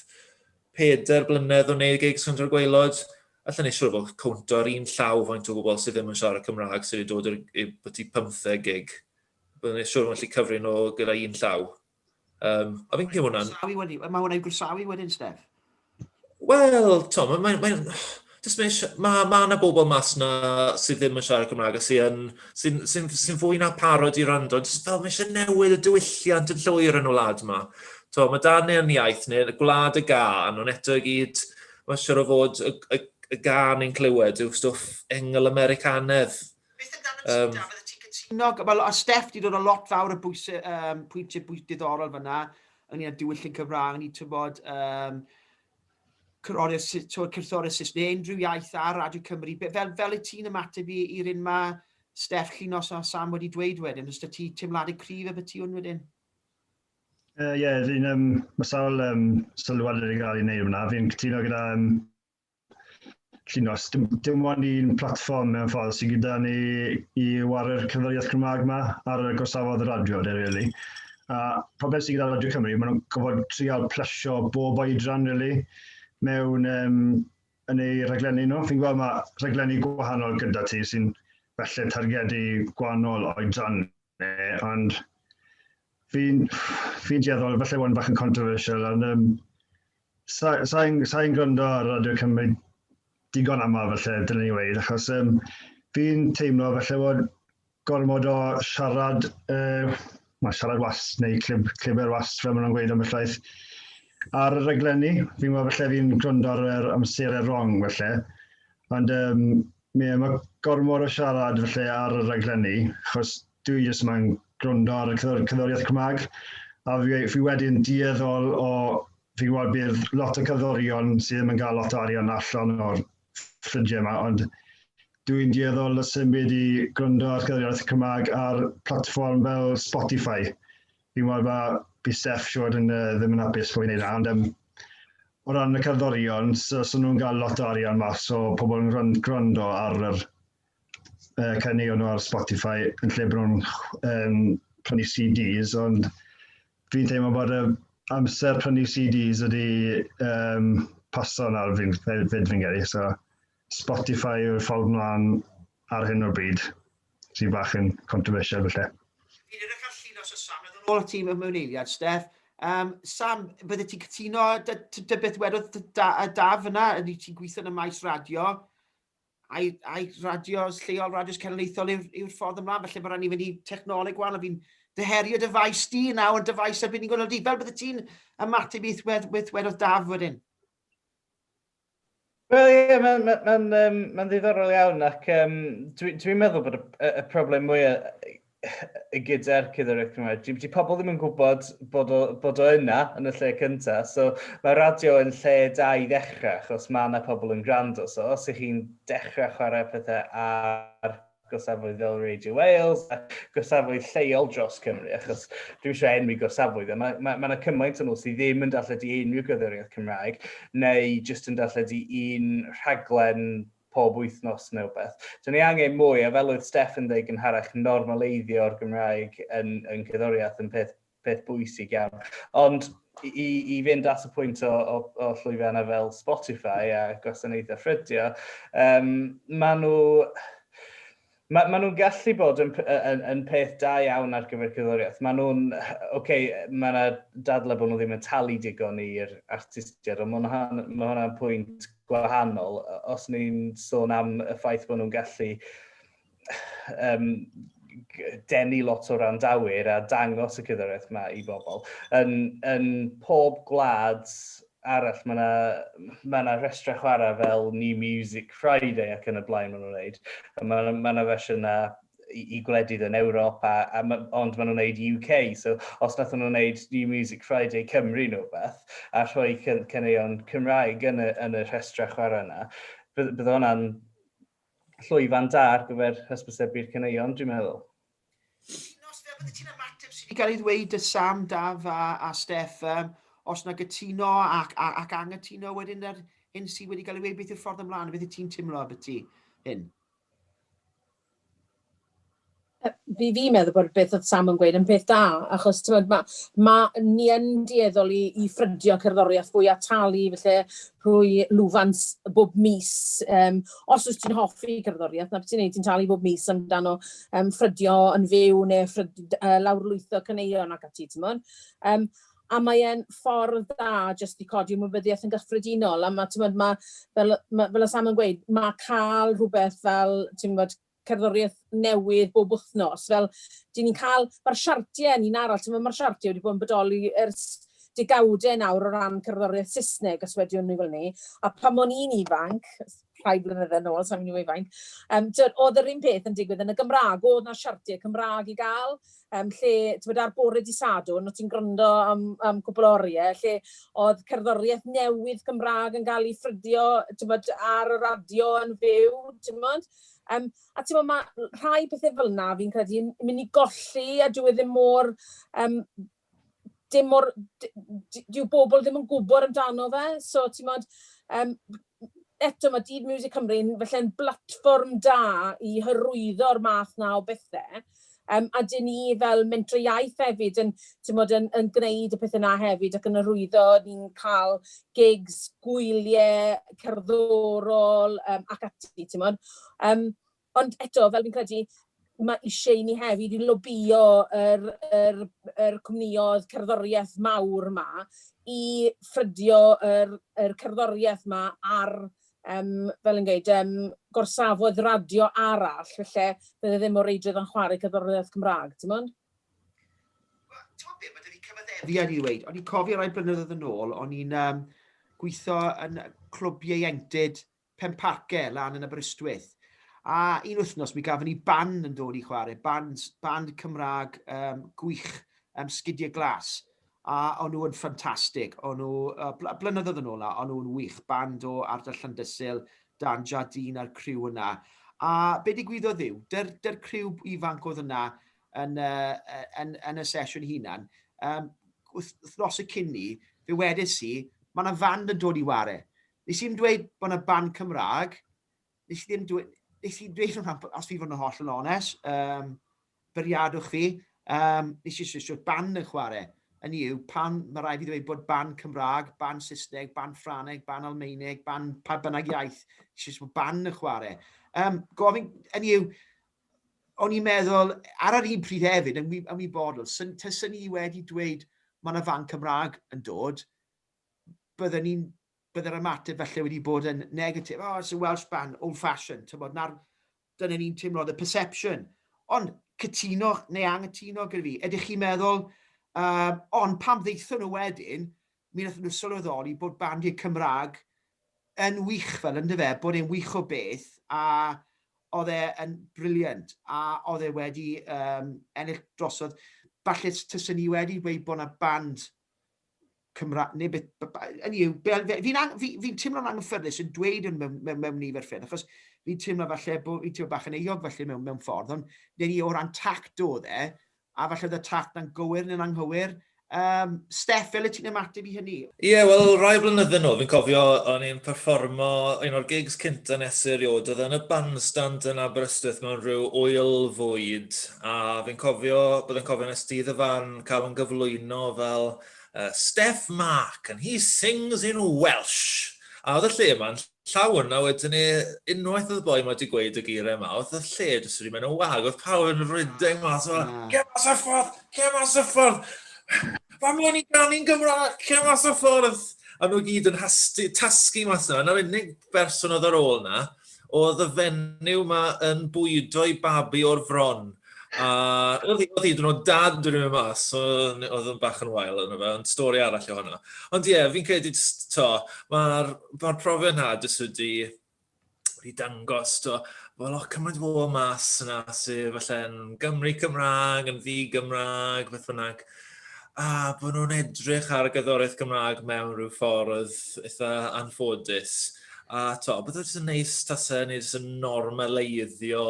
peder blynedd o wneud gigs rhwng gweilod, allan eisiau o fod cwnt o'r un llaw faint o bobl sydd ddim yn siarad Cymraeg sydd wedi dod i'r byti pymtheg gig. Byddwn eisiau o fod yn lli cyfrin o gyda un llaw. Um, a fi'n gwybod hwnna'n... Mae hwnna'n gwrsawi wedyn, Steph? Wel, to, mae'n... Mae, mae, mae jyst mae eisiau, mae ma yna bobl mas na sydd ddim yn siarad Cymraeg a sy'n sy sy sy fwy na parod i rando, jyst fel mae eisiau newid y diwylliant yn llwyr yn y wlad yma. To, mae dan neu'n iaith neu y gwlad y gan, ond eto i gyd, mae'n siŵr o fod y, y, y gan yn clywed yw stwff engl Americanedd. Beth amdano ti, um, Dafydd, ti'n cytuno? Wel, a Steff, di dod o lot fawr y bwys, um, pwyntiau bwys diddorol fyna, ynglyn â diwylliant Cymraeg, ni tybod, um, cyrthori'r Saes neu unrhyw iaith ar Radio Cymru. Fel, fel y ti'n ymateb i'r un mae Steff Llinos a Sam wedi dweud wedyn, os da ti teimladau cryf y beth ti hwn wedyn? Ie, uh, yeah, fi'n, um, mae sawl um, sylwad wedi cael ei wneud hwnna. Fi'n cytuno gyda um, Felly, os dim, dim ond un platfform mewn ffordd sydd gyda ni i ware'r cyfeiriad Cymraeg yma ar y gorsafodd y radio, de, really. A problem sydd gyda Radio Cymru, maen nhw'n gofod trial plesio bob oedran, really, mewn um, yn ei rhaglenni nhw. Fi'n gweld mae rhaglenni gwahanol gyda ti sy'n felly targedu gwahanol oedran, Eh, ond fi'n fi dueddol, falle bod yn bach yn controversial, ond um, sa'n sa, sa gwrando ar Radio Cymru digon aml falle, dyna ni weid, achos um, fi'n teimlo falle bod gormod o siarad, uh, mae siarad was neu clib, cliber was, fel maen nhw'n gweud am y llaeth, ar y rhaglenni. Fi'n meddwl falle fi'n gwrando ar yr amserau wrong falle, ond um, Ie, mae gormod o siarad felly ar y rhaglenni, achos dwi jyst yma yn gwrando ar y cyddoriaeth Cymraeg, a fi, fi wedi'n dueddol o, fi'n gwybod bydd lot o cyddorion sydd ddim yn cael lot o arian allan o'r ffrindiau yma, ond dwi'n dueddol o symud i gwrando ar cyddoriaeth Cymraeg ar platfform fel Spotify. Fi'n meddwl mae bydd Steph siwr yn uh, ddim yn hapus bod fi'n ei na, ond um, o ran y cerddorion, so, so nhw'n cael lot o arian mas o pobl yn gwrando ar yr uh, caneuon nhw ar Spotify yn lle bod nhw'n um, prynu CDs, ond fi'n teimlo bod y amser prynu CDs ydy um, paso nawr fi'n fyd fi'n gyrru, so Spotify yw'r ffordd mlaen ar hyn o'r bryd, sy'n bach yn controversial felly. Fi'n edrych ar llun os oes Sam, na ddod ôl at ti mewn eiliad, Steff. Um, Sam, bydde ti'n cytuno dy, dy, dy beth wedodd da, y daf yna, ydy ti'n gweithio yn y maes radio, a'i, ai radios lleol, radios cenedlaethol yw'r yw ffordd ymlaen, felly mae rhaid ni fynd i technoleg wahanol, fi'n ddyherio dyfais di nawr yn dyfais ar unigol di, fel bydde ti'n ymateb i weith, weith wedodd daf wedyn? Wel ie mae'n ma, ma, ma, um, ma ddiddorol iawn ac um, dwi'n dwi meddwl bod y, y problem mwyaf gyda'r cyddoraeth Cymraeg. Di, di pobl ddim yn gwybod bod o, bod o yna yn y lle cyntaf. So mae radio yn lle da i ddechrau achos mae yna pobl yn gwrando. So os ych chi'n dechrau chwarae pethau ar gorsafoedd fel Radio Wales a gorsafoedd lleol dros Cymru, achos dwi'n eisiau enwi gorsafoedd, a mae yna ma, ma cymaint o nhw sydd ddim yn darlledu unrhyw gyddoriaeth Cymraeg, neu jyst yn darlledu un rhaglen pob wythnos neu beth. Dwi'n ei angen mwy, a fel oedd Steph yn dweud gynharach, normaleiddio'r Gymraeg yn, yn cyddoriaeth yn peth peth bwysig iawn. Ond i, i fynd at y pwynt o, o, o llwyfannau fel Spotify a gwasanaethau ffrydio, um, maen nhw... Mae, maen nhw'n gallu bod yn, yn, yn peth da iawn ar gyfer cyddoriaeth. Maen nhw'n, oce, okay, mae yna dadlau bod nhw ddim yn talu digon i'r artistiaid, ond mae hwnna'n ma hwnna pwynt gwahanol. Os ni'n sôn am y ffaith bod nhw'n gallu um, denu lot o randawyr a dangos y cyddoraeth yma i bobl. Yn, yn pob gwlad arall, mae yna ma, na rhestrau chwarae fel New Music Friday ac yn y blaen maen nhw'n gwneud. Mae yna ma, ma fersiynau i, i gwledydd yn Ewrop, a, a ma, ond maen nhw'n gwneud UK. So, os nath nhw'n gwneud New Music Friday Cymru nhw beth, a rhoi cyn, cyneuon Cymraeg yn y, yn y rhestrau chwarae yna, bydd, bydd hwnna'n llwyfan da ar gyfer hysbysebu'r caneuon, dwi'n meddwl. Cytuno, Steff, byddet ti'n ymateb sydd wedi cael ei ddweud dy Sam, Daf a, a Steff, um, os na gytuno ac, ac, ac angytuno wedyn yr hyn sydd wedi cael ei ddweud, beth yw'r ffordd ymlaen, beth y ti'n timlo abyty hyn? fi fi'n meddwl bod beth oedd Sam yn gweud yn peth da, achos ti'n ma, ma, ni yn dueddol i, i ffrydio cerddoriaeth fwy a talu, felly rhwy lwfans bob mis. Um, os wyt ti'n hoffi cerddoriaeth, na beth ti'n neud, ti'n talu bob mis amdano um, ffrydio yn fyw neu ffrydio, uh, lawrlwytho cyneuon ac ati, ti'n mwyn. Um, a mae'n ffordd dda jyst i codi ymwybyddiaeth yn gyffredinol. A mae, ti'n ma, fel, ma, fel y Sam yn gweud, mae cael rhywbeth fel, ti'n gwybod, cerddoriaeth newydd bob wythnos. Fel, dyn ni'n cael... Mae'r siartiau yn un arall, timod, mae'r siartiau wedi bod yn bodoli ers degawdau nawr o ran cerddoriaeth Saesneg, os wedi hynny fel 'ny. A pan o'n i'n ifanc, rhai blynydde nôl, sa i'n mynd i weud faint, yym, timod, oedd yr un peth yn digwydd yn y Gymraeg, oedd 'na siartiau Cymraeg i gael, yym, lle, timod, ar bore dydd Sadwrn, o' ti'n gwrando am am cwpl o oriau, lle oedd cerddoriaeth newydd Cymraeg yn cael ei ffrydio, timod, ar y radio yn fyw, timod. Yym, a ti'n gwybod, mae rhai pethau fel yna, fi'n credu, yn mynd i golli, a dyw e ddim mor... Um, dim mor... Dyw bobl ddim yn gwybod amdano fe, so ti'n gwybod, um, eto mae Dyd Music Cymru yn falle'n blatfform da i hyrwyddo'r math na o bethau. Yym, a dyn ni fel Mentrau Iaith hefyd yn, timod, yn, yn gwneud y pethau 'na hefyd ac yn arwyddo, ni'n cael gigs, gwyliau cerddorol yym ac ati, timod. Yym, ond eto, fel fi'n credu, ma' isie i ni hefyd i lobïo yr yr yr cwmnioedd cerddoriaeth mawr 'ma i ffrydio yr yr cerddoriaeth 'ma ar Yym, fel yn gweud, yym, gorsafodd radio arall, felly bydde ddim o reidrwydd o'n chwarae cerddoriaeth Cymraeg, ti'n mwyn? Wel, ti'n mwyn beth, mae dyna cyfaddefiad i weid. O'n i'n cofio rhai blynyddoedd yn ôl, o'n i'n um, gweithio yn clwb ieuenctid Penparce, lan yn Aberystwyth. A un wythnos mi gafon ni ban yn dod i chwarae, band, band Cymraeg um, gwych, um, sgidiau glas. A o'n nhw yn ffantastig. O'n nhw, yy, blynyddoedd yn ôl nawr, o'n nhw'n wych. Band o ardal Llandysul, Dan Jardine a'r criw yna. A be digwyddodd yw, dy'r, dy'r criw ifanc oedd yna yn, uh, yn, yn y sesiwn hunan, um, wrth y cyn ni, fe wedys i, mae yna fand yn dod i ware. Nes i'n dweud bod yna band Cymraeg, nes i ddim dweud, nes i dweud hwnna, os fi fod yn holl yn ones, um, bwriadwch fi, um, nes i swisio ban yn chwarae. Yn yw, pan mae rhaid i ddweud bod ban Cymraeg, ban Saesneg, ban Ffraneg, ban Almeineg, ban pa bynnag iaith, nes i swisio ban yn chwarae. Um, gofyn, yn yw, o'n i'n meddwl, ar yr un pryd hefyd, yn ymwybodol, syn, tysyn ni wedi dweud mae yna fan Cymraeg yn dod, byddwn ni'n bydde'r ymateb falle wedi bod yn negatif, oh, it's a Welsh band, old fashioned, tymod, na'r, dyna ni'n teimlo, the perception. Ond cytuno neu anghytuno gyda fi, ydych chi'n meddwl, um, ond pam ddeithon nhw wedyn, mi wnaeth nhw sylweddoli bod bandiau Cymraeg yn wych fel ynddo fe, bod e'n wych o beth, a oedd e yn briliant, a oedd e wedi um, ennill drosodd, falle tysyn ni wedi dweud bod yna band Cymraeg, neu beth, hynny yw, fi'n fi, fi teimlo'n anghyffyrddus yn dweud yn mewn, mewn, mewn nifer ffyrdd, achos fi'n teimlo falle bod fi'n teimlo bach yn eog falle mewn, mewn ffordd, ond neu ni o ran tact o dde, a falle oedd y tact na'n gywir neu'n anghywir. Um, Steph, fel y ti'n ymateb i hynny? Ie, yeah, wel, rai blynyddoedd nhw, fi'n cofio o'n i'n performo un o'r gigs cynta nes erioed, oedd yn y bandstand yn Aberystwyth mewn rhyw oil fwyd, a fi'n cofio, byddai'n cofio nes dydd y fan yn cael yn gyflwyno fel uh, Steph Mark, and he sings in Welsh. A oedd y lle yma'n llawn, a wedyn ni, unwaith oedd y boi yma wedi gweud y geiriau yma, oedd y lle jyst wedi mynd o wag, oedd pawb yn rhedeg mas, oedd ah. lle mas y ffordd, lle mas y ffordd, fa mlaen i ganu'n Gymraeg, lle mas y ffordd. A nhw gyd yn hasti, tasgu mas yna, na'r unig berson oedd ar ôl yna, oedd y fenyw ma yn bwydo i babi o'r fron. A oedd hi hyd yn oed dad yn mynd mas, so, oedd yn bach yn wael yna fe, ond stori arall o hwnna. Ond ie, yeah, fi'n credu, to, mae'r ma profiad na jyst wedi, wedi dangos, to, wel, o, cymaint o bobl mas yna sydd falle'n Gymru Cymraeg, yn ddi Gymraeg, beth bynnag. A bod nhw'n edrych ar y gyddoriaeth Gymraeg mewn rhyw ffordd eitha anffodus. A to, beth oedd yn neis tasa ni jyst yn normaleiddio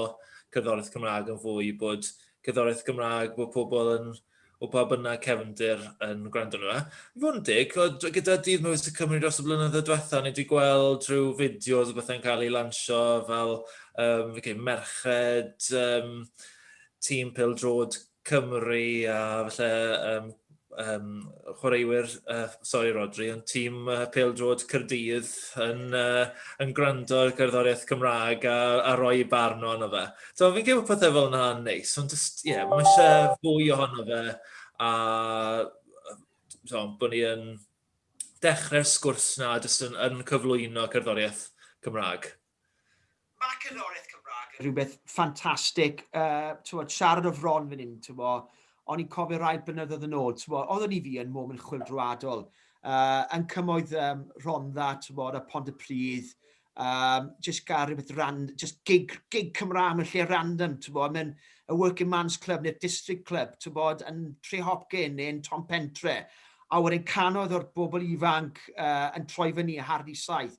cerddoriaeth Cymraeg yn fwy, bod cerddoriaeth Gymraeg, bod pobl yn, o pa bynnag cefndir yn gwrando nhw. I fod yn dig, gyda Dydd Mywys y Cymru dros y blynyddoedd diwetha, ni wedi gweld rhyw fideos o bethau'n cael ei lansio fel um, okay, merched um, tîm pildrod Cymru a falle um, um, chwaraewyr, uh, sorry Rodri, yn tîm uh, Pêl Drod Cyrdydd yn, uh, yn gwrando ar gerddoriaeth Cymraeg a, a roi barn o'n o fe. So, fi'n gwybod pethau fel yna yn neis, ond just, ie, yeah, mae eisiau fwy ohono fe a so, bod ni yn dechrau'r sgwrs na jyst yn, yn cyflwyno cerddoriaeth Cymraeg. Mae cerddoriaeth Cymraeg yn rhywbeth ffantastig. Yy, siarad o fron fan hyn, t'mo', o'n i'n cofio rai blynyddoedd yn ôl, t'mo', oeddwn i fi yn moment chwyldroadol, uh, yn cymoedd um, Rhondda, t'mo', a Pontypridd, um, just gael rhywbeth ran, just gig, gig Cymraeg mewn lle random, t'mo', mewn y Working Man's Club neu'r District Club, t'mo', yn Tre Hopkin neu'n Tom Pentre, a wedyn canoedd o'r bobl ifanc uh, yn troi fyny a hardi saith.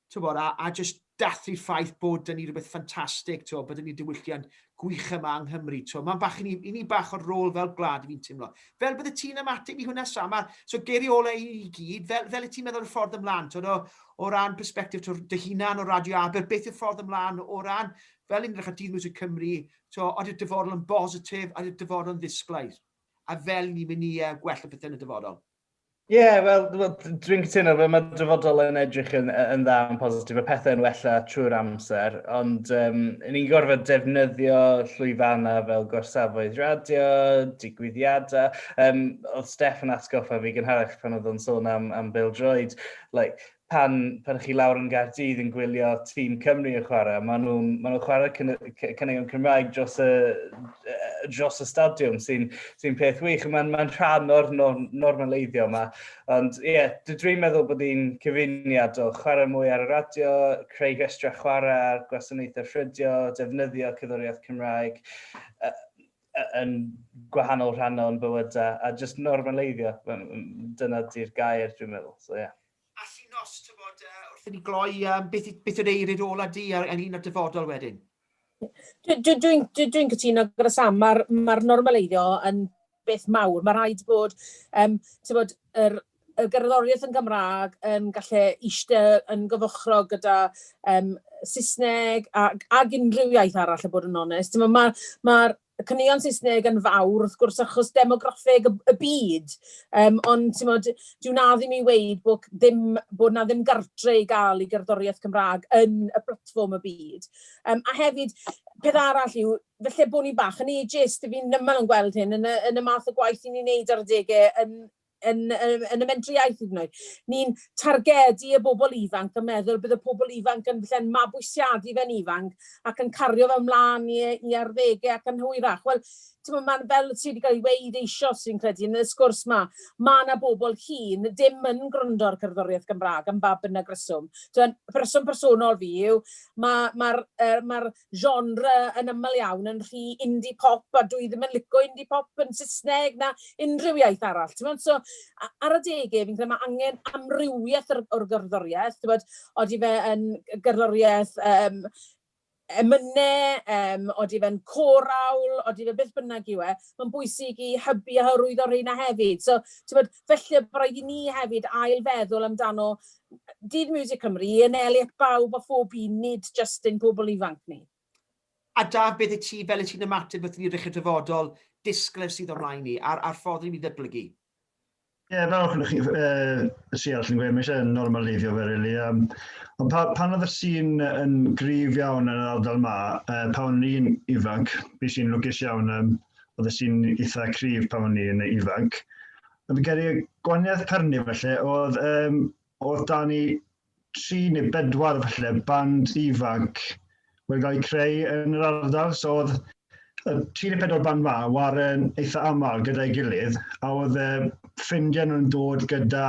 Tibod, a, a jyst dathlu'r ffaith bod dyn ni rhywbeth ffantastig, tibod, bod dyn ni diwylliant gwych yma yng Nghymru. Tibod. Mae'n bach i ni, i ni bach o'r rôl fel gwlad i fi'n teimlo. Fel bydde ti'n ymateb i hwnna, Sam? A, so geiriau olau i ni gyd, fel, fel y ti'n meddwl y ffordd ymlaen, tibod, o, o ran perspektif tibod, dy hunan o Radio Aber, beth yw'r ffordd ymlaen o ran, fel yn edrych ar Dydd Music Cymru, tibod, oeddi'r dyfodol yn bositif, oeddi'r dyfodol yn ddisglair, a fel ni'n mynd i uh, gwella pethau yn y dyfodol? Ie, yeah, wel, dwi'n cytuno fe, mae dyfodol yn edrych yn, yn dda yn positif, mae pethau'n wella trwy'r amser, ond um, ni'n gorfod defnyddio llwyfannau fel gorsafoedd radio, digwyddiadau. Um, oedd Steph yn atgoffa fi gynharach pan oedd o'n sôn am, am Bill Droid, like, pan, pan chi lawr yn Gaerdydd yn gwylio tîm Cymru yn chwarae, maen nhw'n ma nhw chwarae cynnigion Cymraeg dros y, dros y stadiwm, sy'n sy peth wych. Mae'n ma rhan o'r norm, normaleiddio yma. Ond ie, yeah, dwi'n meddwl bod hi'n cyfuniad o chwarae mwy ar y radio, creu rhestrau chwarae ar gwasanaethau ffrydio, defnyddio cyddoriaeth Cymraeg. yn gwahanol rhannau o'n bywydau, a jyst normaleiddio, dyna di'r gair dwi'n meddwl, so ie. Yeah. A Llinos, ti'n bod, uh, wrth i ni gloi, um, beth, beth yw'r eirid ola di ar ynglyn â'r dyfodol wedyn? Dwi'n dwi, dwi, dwi, dwi cytuno gyda Sam, mae'r ma, normaleiddio yn beth mawr. Mae rhaid bod, um, ti'n bod, yr y gerddoriaeth yn Gymraeg yn gallu ishte yn gyfochrog gyda yym Saesneg ac ac unrhyw iaith arall a bod yn onest. T'mo' ma' ma'r y caneuon Saesneg yn fawr wrth gwrs achos demograffeg y y byd yym ond t'mod dyw 'na ddim i weud bo' c- ddim bod 'na ddim gartre i ga'l i gerddoriaeth Cymra'g yn y platfform y byd. Yym a hefyd peth arall yw falle bo' ni bach yn ageist 'yf fi'n yn gweld hyn yn y yn y math o gwaith 'yn ni'n neud ar adege yn yn, yn y mentri iaith hyd yn oed. Ni'n targedu y bobl ifanc a meddwl bydd y pobl ifanc yn falle'n mabwysiadu fe'n ifanc ac yn cario fe ymlaen i, i arddegau ac yn hwyrach. Wel, ti'n mae'n fel sydd wedi cael ei weid eisioes sy'n credu yn y sgwrs ma, mae yna bobl hyn dim yn gwrando ar cerddoriaeth Gymraeg am ba bynnag reswm. Dwi'n rheswm personol fi yw, mae'r ma, ma, ma genre yn aml iawn yn rhy indie pop a dwi ddim yn lico indie pop yn Saesneg na unrhyw iaith arall. Ti'n so, ar adegau, fi'n credu mae angen amrywiaeth o'r, or gerddoriaeth. Ti'n bod, oeddi fe yn gerddoriaeth um, emynau, um, oeddi fe'n corawl, oeddi fe beth bynnag yw e, mae'n bwysig i hybu a hyrwyddo rheina hefyd. So, ti'n bod, felly bod rhaid i ni hefyd ailfeddwl amdano Dydd Music Cymru, Ian Elliott, bawb a phob un, nid jyst ein pobl ifanc ni. A Daf, beth i ti, fel i ti'n ymateb wrth i ni rychu'r dyfodol disglair sydd o'n mlaen ni, a'r, a'r ffordd ni'n mynd i ddyblygu? Ie, yeah, fel o'ch chi, uh, si all yn gweud, mae eisiau normaleiddio fe, really. Um, ond pa, pan oedd y sîn yn grif iawn yn yr ardal ma, uh, pa o'n i'n ifanc, bu sy'n lwcus iawn, um, oedd y sîn eitha cryf pa o'n i'n ifanc, A fi'n credu gwaniaeth Perni felly oedd, um, oedd da ni tri neu bedwar felly band ifanc wedi cael eu creu yn yr ardal. So oedd y tri neu pedwar band ma waren eitha aml gyda'i gilydd a oedd e, ffrindiau nhw'n dod gyda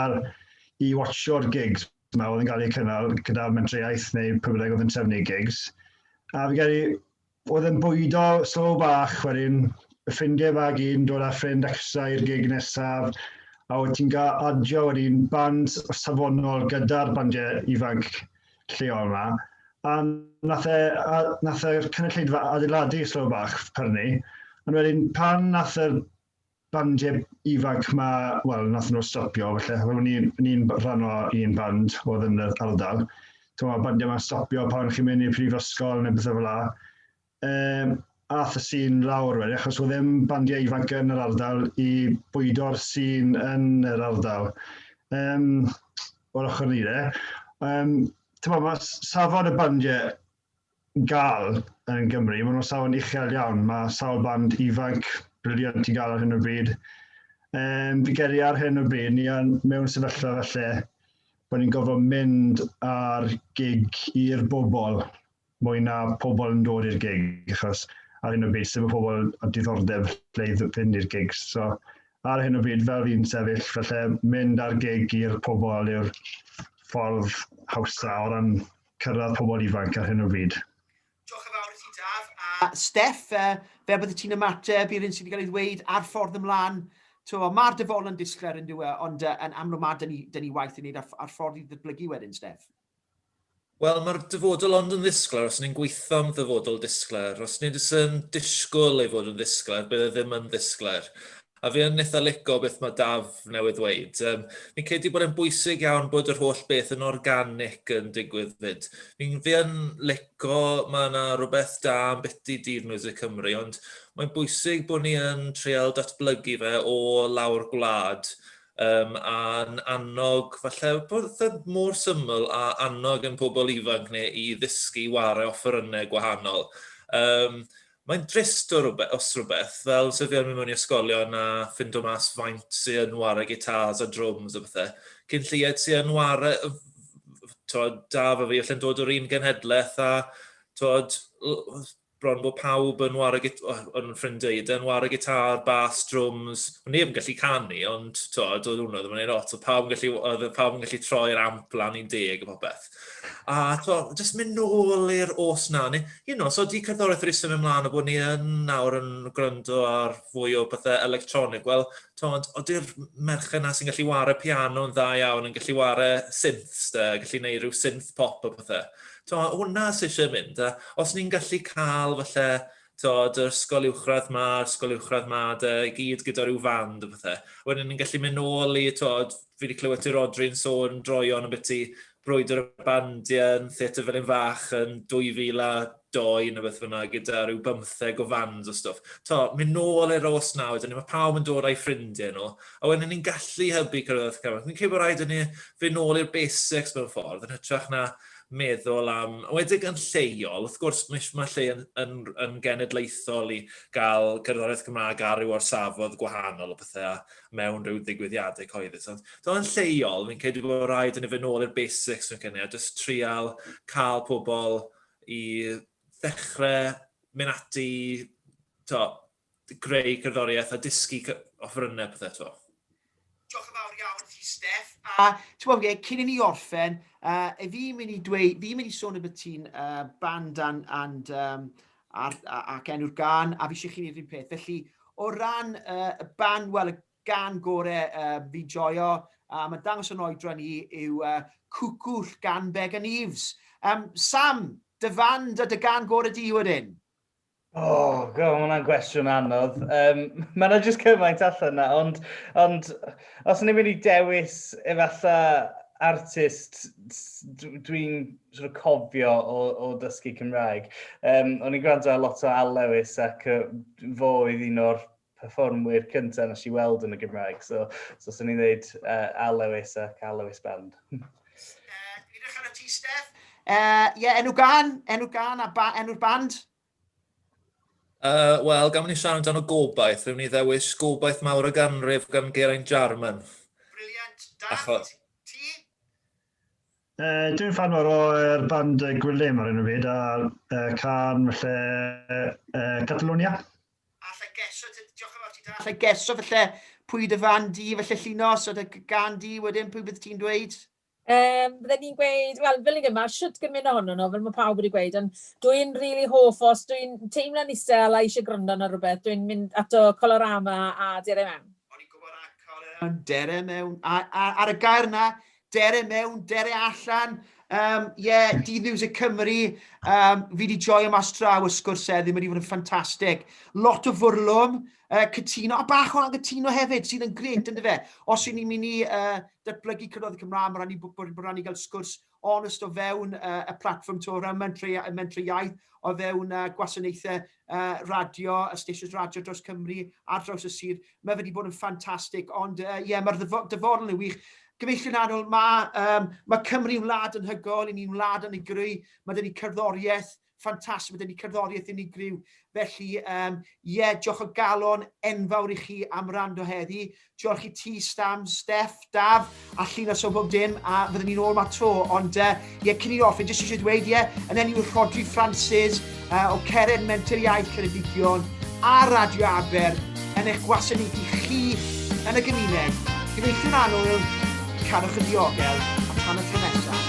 i watcho'r gigs ma oedd yn cael eu cynnal gyda'r mentraiaeth neu pwy bynnag oedd yn trefnu gigs. A fi'n credu Oedd yn bwydo slow bach wedyn, ffrindie fag un dod a ffrind acsa i'r gig nesaf a oedd ti'n ga adio wedyn band safonol gyda'r bandie ifanc lleol ma a nath e a nath yr cynulleidfa adeiladu slow bach pyrni ond wedyn pan nath yr bandiau ifanc ma, wel, nath nhw stopio, felly ro'n ni'n ni rhan o un band oedd yn yr ardal. Ti'n meddwl, bandiau ma'n stopio pan chi'n mynd i'r prifysgol neu bethau fel la. Um, ath y sîn lawr wedi, achos oedd ddim bandiau ifanc yn yr ardal i bwydo'r sîn yn yr ardal. Um, o'r ochr ni de. Um, ti'n meddwl, mae safon y bandiau gael yn Gymru. Maen nhw'n safon uchel iawn. Mae sawl band ifanc briliant i gael ar hyn o bryd. Um, fi geri ar hyn o bryd, ni yn mewn sefyllfa falle bod ni'n gofod mynd ar gig i'r bobl mwy na pobl yn dod i'r gig, achos ar hyn o bryd sef y pobl a diddordeb lle i fynd i'r gig. So, ar hyn o bryd fel fi'n sefyll, felly mynd ar gig i'r pobl yw'r ffordd hawsa o ran cyrraedd pobl ifanc ar hyn o bryd. Diolch yn fawr i ti Daf. A Steff, fel bydde ti'n ymateb i'r hyn sydd wedi cael ei ddweud a'r ffordd ymlaen? Mae'r dyfodol yn disglair yn dyw e, ond yn amlwg mae 'da ni waith i wneud a'r ffordd i ddatblygu wedyn, Steff. Wel, mae'r dyfodol ond yn ddisglair os ni'n gweithio am ddyfodol disglair. Os ni jyst yn disgwyl ei fod yn ddisglair, bydd e ddim yn ddisglair. A fi yn eitha lico beth mae Daf newydd ddweud. Um, fi'n credu bod e'n bwysig iawn bod yr holl beth yn organic yn digwydd fyd. Fi'n fi yn lico, mae yna rhywbeth da am beti Dydd Music Cymru, ond mae'n bwysig bod ni yn treol datblygu fe o lawr gwlad um, a'n annog, falle bod e mor syml a annog yn pobl ifanc neu i ddysgu wario offerynnau gwahanol. Um, Mae'n drist o rwbeth, os rhywbeth, fel sut fi yn mynd mewn i ysgolion a ffindo mas faint sy'n yn ware gitars a drwms a bethau. Cyn lleied sy'n yn ware, tod, da fe fi, allan dod o'r un genhedlaeth a, tod, bron bod pawb yn ware gitars, o'n ffrindiau i, yn ware gitar, bas, drwms. O'n neb yn gallu canu, ond, tod, oedd hwnna ddim yn ei lot. Oedd pawb yn gallu, oedd pawb yn gallu troi'r amp lan i'n deg a popeth. A to, jyst mynd nôl i'r os na, neu, you know, so di cerddoriaeth wedi symud ymlaen o bod ni yn nawr yn gwrando ar fwy o bethau electronig. Wel, tond, oeddi'r merched yna sy'n gallu wario piano yn dda iawn, yn gallu wario synths, da, gallu gwneud rhyw synth pop o bethau. To, hwnna sy'n eisiau mynd. Da. Os ni'n gallu cael falle to, yr ysgol uwchradd ma, ysgol uwchradd ma, da, i gyd gyda rhyw fand o bethau. Wedyn ni'n gallu mynd nôl i to, fi wedi clywed ti Rodri yn sôn droion yn beth i brwydr y bandiau yn Theatr Felin Fach yn 2002 neu beth fyna gyda rhyw bymtheg o fans o stwff. To, mynd nôl i'r os nawr, dyn ni mae pawb yn dod â'i ffrindiau nhw, a wedyn ni'n gallu hybu cyrraedd camau. Fi'n credu bod rhaid i ni fynd nôl i'r basics mewn ffordd, yn hytrach na meddwl am, wedig yn lleol, wrth gwrs mae lle yn, yn, yn genedlaethol i gael cerddoriaeth Gymraeg ar ryw orsafodd gwahanol o pethau, mewn rhyw ddigwyddiadau coedus. Ond dyna yn lleol, fi'n credu bod rhaid yn y fynol i'r basics yn cynnig, a jyst trial cael pobl i ddechrau mynd ati, to, greu cerddoriaeth a dysgu offrynnau pethau to. Diolch yn fawr iawn ti, Steff. A ti'n gwybod, ie, cyn i ni orffen, uh, fi'n mynd i dweud, fi'n mynd i sôn y beth ti'n uh, band and, and um, Ar, ac enw'r gan, a fi eisiau chi wneud yr un peth. Felly, o ran uh, y ban, wel, y gan gore uh, fi joio, a mae'n dangos yn oedra ni, yw uh, Cwcwll gan Began Eves. Um, Sam, dy fan, dy, dy gan gore di wedyn? O, oh, god, mae hwnna'n gwestiwn anodd. Um, mae yna jyst cymaint allan yna, ond, ond os ni'n mynd i dewis efallai artist dwi'n sort of cofio o, o dysgu Cymraeg. Um, o'n i'n gwrando ar lot o Al Lewis ac uh, fo oedd un o'r performwyr cyntaf nes i weld yn y Gymraeg. So, so sy'n ni'n dweud uh, Al Lewis ac Al Lewis Band. uh, Dwi'n edrych ar y ti, Steph. Ie, uh, yeah, enw gan, enw gan a ba, enw'r band? Uh, Wel, gan ni siarad amdano gobaith, rwy'n ni ddewis gobaith mawr o ganrif gan Geraint Jarman. Briliant, da. Achos... Uh, dwi'n fan o'r er band uh, Gwilym ar un o fyd, a uh, can felly uh, Catalonia. Alla geso, diolch yn fawr ti da. Alla geso felly pwy dy fan di felly llino, so dy gan di wedyn pwy bydd ti'n dweud? Um, Byddwn ni'n gweud, wel, fel ni'n yma, siwt gymryd ohono nhw, fel mae pawb wedi gweud, ond dwi'n rili really hoff os dwi'n teimlo'n isel a eisiau gwrando ar rhywbeth, dwi'n mynd ato Colorama a Dere Mewn. O'n i'n gwybod a Colorama, Dere Mewn, a, a, ar y gair yna, dere mewn, dere allan. Um, yeah, Dydd Music Cymru, um, fi wedi joio mas draw y sgwrs eddi, mae wedi bod yn ffantastig. Lot o fwrlwm, uh, cytuno, a bach o angytuno hefyd, sydd yn gret, ynddo fe. Os yw ni'n mynd i uh, datblygu cynnydd y Cymraeg, mae'n rhaid i bod yn rhaid i gael sgwrs onest o fewn uh, y platform to o ran mentrau, mentrau iaith, o fewn uh, gwasanaethau uh, radio, y stations radio dros Cymru, ar draws y sir. Mae wedi bod yn ffantastig, ond ie, uh, yeah, mae'r dyfodol yn wych. Gyfeillion anol, mae, um, mae Cymru yn wlad yn hygol, i ni'n wlad yn ei greu, mae dyn ni cerddoriaeth, ffantastig, mae dyn ni cerddoriaeth yn ei greu. Felly, ie, um, yeah, diolch o galon enfawr i chi am rando heddi. Diolch i ti, Stam, Steff, Daf, a llun o bob dim, a fyddwn ni'n ôl ma tro. Ond, ie, uh, yeah, cyn i ni offi, jyst eisiau dweud, ie, yeah, yn enw Rodri Francis, uh, o Ceren Menter Iaith Ceredigion, a Radio Aber, yn eich gwasanaethu chi yn y gymuned. Gyfeillion anwyl, cadwch yn diogel, a tan y tro nesaf.